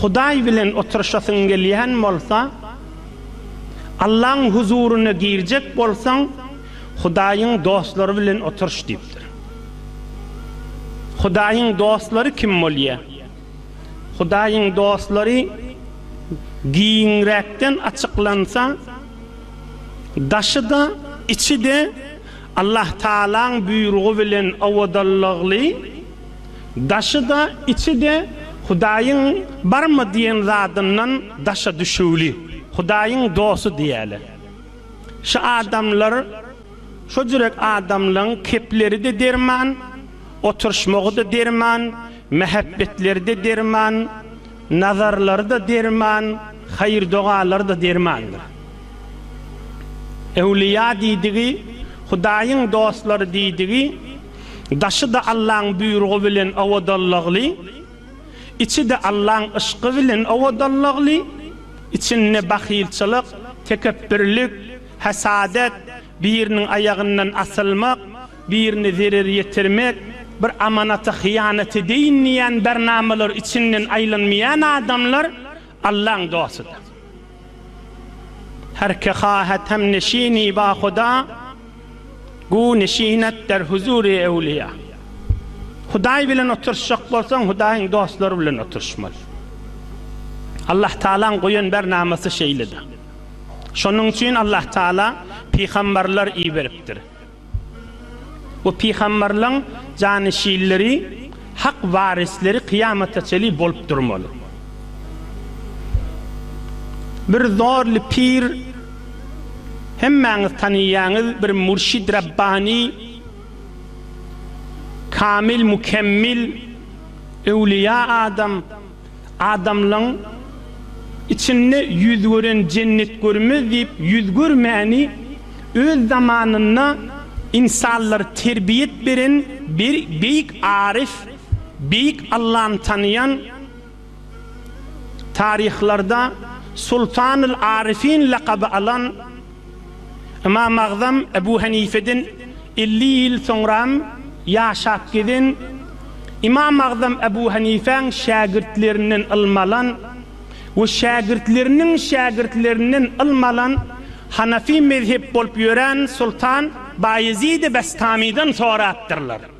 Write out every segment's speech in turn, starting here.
Hudaý bilen oturyşasyň gelýän bolsa, Allaň huzuryna girjek bolsaň, Hudaýyň dostlary bilen oturyş diýipdir. Hudaýyň dostlary kim bolýar? Hudaýyň dostlary giňräkden açyklansa, daşy-da, içi-de Allah Tagalaň buýrugy bilen owadanlygly, Daşy-da, içi-de Hudaýyň barmy diýen zadyndan daşa düşüwli, Hudaýyň dosty diýeli. Şu adamlar, şo jürek adamlaň kepleri-de derman, oturyşmagy-da derman, mähebbetleri-de derman, nazarlary-da derman, haýyr-dogalary-da dermandyr. Öwlüýa diýdigi, Hudaýyň dostlary diýdigi, Daşy-da Allaň buýrugy bilen owadanlygly, içi-de Allaň yşky bilen owadanlygly, içinde bahylçylyk, tekepbirlik, hasadat, biriniň aýagyndan asylmak, birine zerer ýetirmek, bir amanata hyýanat edeýin diýýän bernamalar içinden aýlanmaýan adamlar Allaň dostudyr. Her ki hahet hem neşini ba Huda, Gu neşinet der huzuri ewliýa. Hudaý bilen oturşjak bolsaň, Hudaýyň dostlary bilen oturşmaly. Allah Tagalaň goýan bernamasy şeýledir. Şonuň üçin Allah Tagala pygambarlar iberipdir. Bu pygamberleň janyşinleri, hak warisleri kyýamata çenli bolup durmaly. Bir zorly pir, hemmäňiz tanaýaňyz, bir mürşid rabbani, kamil mükemmil, öwlüýa adam, Adamlaň içinde ýüz gören jennet görmez diýip ýüz görmäni öz zamanynda ynsanlary terbiýet beren bir beýik aryf, beýik Allany tanaýan taryhlarda Sultanyl Aryfyn lakaby alan Ymam Agzam Ebu Henifeden elli ýyl soňram ýaşap gezen, Ymam Agzam Ebu Henifäň şägirtlerinden ylmy alan we şägirtleriniň şägirtlerinden ylmy alan Hanafi mezhep bolup ýören Sultan Baýezidi Bestamydan sorapdyrlar.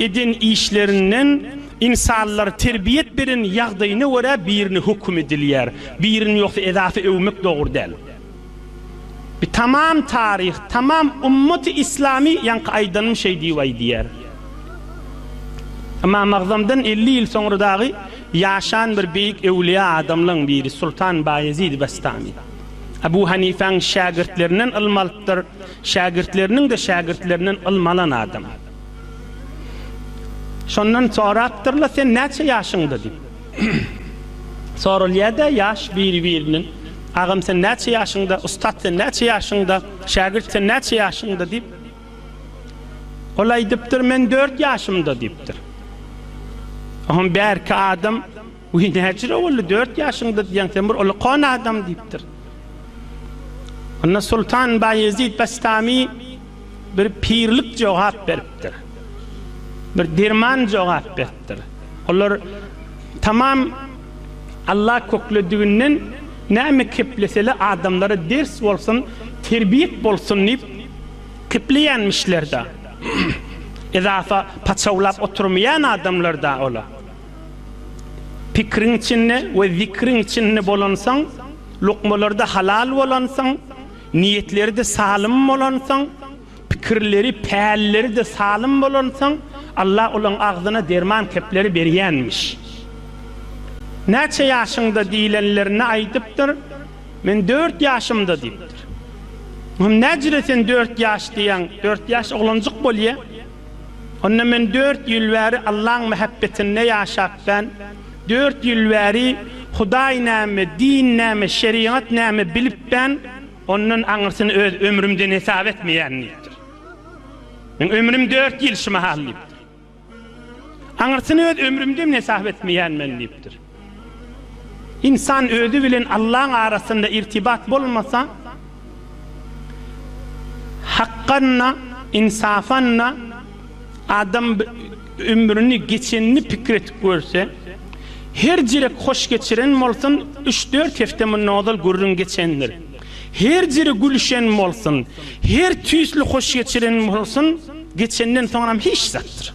Eden işlerinden ynsanlar terbiýet beren ýagdaýyna görä birini höküm edilýär, birini ýogsa edasy öwmek dogry däl. Bi tamam taryh, tamam ummaty islamy ýaňky aýdanym şeý diýip aýdýar. Ymam Agzamdan elli ýyl soňra dagy ýaşan bir beýik öwliýa adamlaň biri Sultan Baýezid Bestami. Abu Hanifäň şägirtlerinden ylmy alypdyr, şägirtleriniň-de şägirtlerinden ylmy alan adam. Şondan sorapdyrlar, sen näçe ýaşyňda diýip. Soralýar-da ýaş biri-biriniň. Agam sen näçe ýaşyňda, ussat sen näçe ýaşyňda, şägirt sen näçe ýaşyňda diýip. Ol aýdypdyr, men dört ýaşymda diýipdir. Oňa bärki adam Wiý, näçe boldy, dört ýaşyňda diýýäň, sen bir ulkan adam diýipdir. Onda Sultan Baýezit Bastamy bir pirlik jogap beripdir. Bir derman jogap beripdir. Olar tamam Alla köklediginden näme kepleseler adamlara ders bolsun, terbiýek bolsun diýip kepleýänmişler-de. Edafa paçawlap oturmaýan adamlar-da olar. Pikriň içinde we zikriň içinde bolansoň, lukmalarda halal bolansoň, niýetleri-de salym bolansoň, pikirleri, pälleri-de salym bolansoň, Allah olaň agzyna derman kepleri berýänmiş. Näçe ýaşyňda diýlenlerinde aýdypdyr, Men dört ýaşymda diýipdir. Hym, näjire sen dört ýaş diýýäň, dört ýaş oglanjyk bolýa. Onda men dört ýyl bäri Allaň mähebbetinde ýaşap ben, dört ýyl bäri Hudaý näme, din näme, şerigat näme bilip ben, ondan aňyrsyny öz ömrümden hesap etmeýän diýipdir. Meň ömrüm dört ýyl şu mahal diýipdir. Aňyrsyny öz ömrümden hesap etmeýän men diýipdir. Ynsan özi bilen Allaň arasynda irtibat bolmasa, hakgan-da, ynsapan-da adam ömrüni geçenini pikir edip görse, her jirek hoş geçiren bolsun, üç-dört hepde mundan ozal gürrüň geçendir. Her jire gülüşen bolsun, her tüýsli hoş geçiren bolsun, geçenden soňram hiç zatdyr.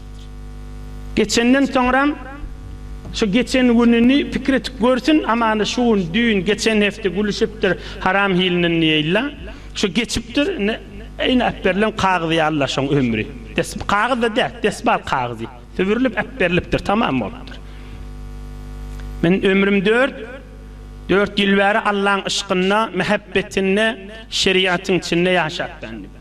Geçenden soňram şu geçen gününi pikir edip görsün, amana şu gün, düýn, geçen hepde gülüşipdir haram hilinden diýeýilla. Şu geçipdir, indi eýni äpberilen kagyz ýalyla şoň ömri. Des, kagyz-da däl, desbal kagyzy. Sübürilip äpberilipdir, tamam bolupdyr. Men ömrüm dört, dört ýyl bäri Allaň yşkynda, mähebbetinde, şeriatyň içinde ýaşapdandym.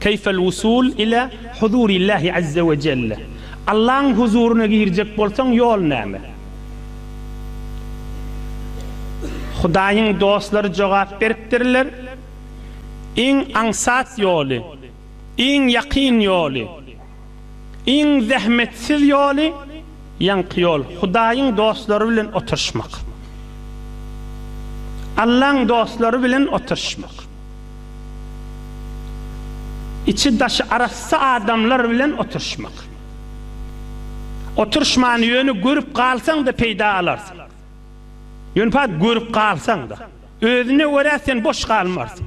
Keýfel wusul ile huzurillahi azze we jelle, Allaň huzuryna girjek bolsaň ýol näme? Hudaýyň dostlary jogap beripdirler, Iň aňsat ýoly, iň ýakyn ýoly. Iň zähmetsiz ýoly, ýaňky ýol, Hudaýyň dostlary bilen oturyşmak. Allaň dostlary bilen oturyşmak. Içi-daşy arassa adamlar bilen oturyşmak. Oturyşman ýöne görüp galsaň-da peýda alarsyň. Ýöne görüp galsaň-da. Özüne görä sen boş galmarsyň.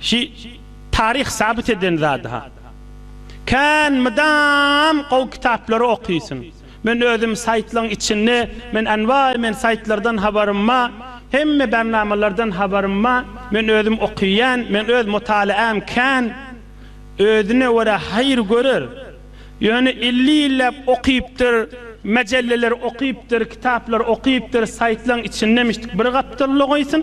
Şi taryh sabyt eden zady ha. Kän mydam gowy kitaplary okysyň. Men özüm saýtlaň içinde men anwaý men saýtlardan habarym ma hemme barnamalardan habarym ma men özüm okyýan men öz mutalaam kän özüne görä haýyr görer ýöne elli ýylläp okypdyr majallalar okypdyr kitaplary okypdyr saýtlaň içinde mişdik bir gapdalda goýsun.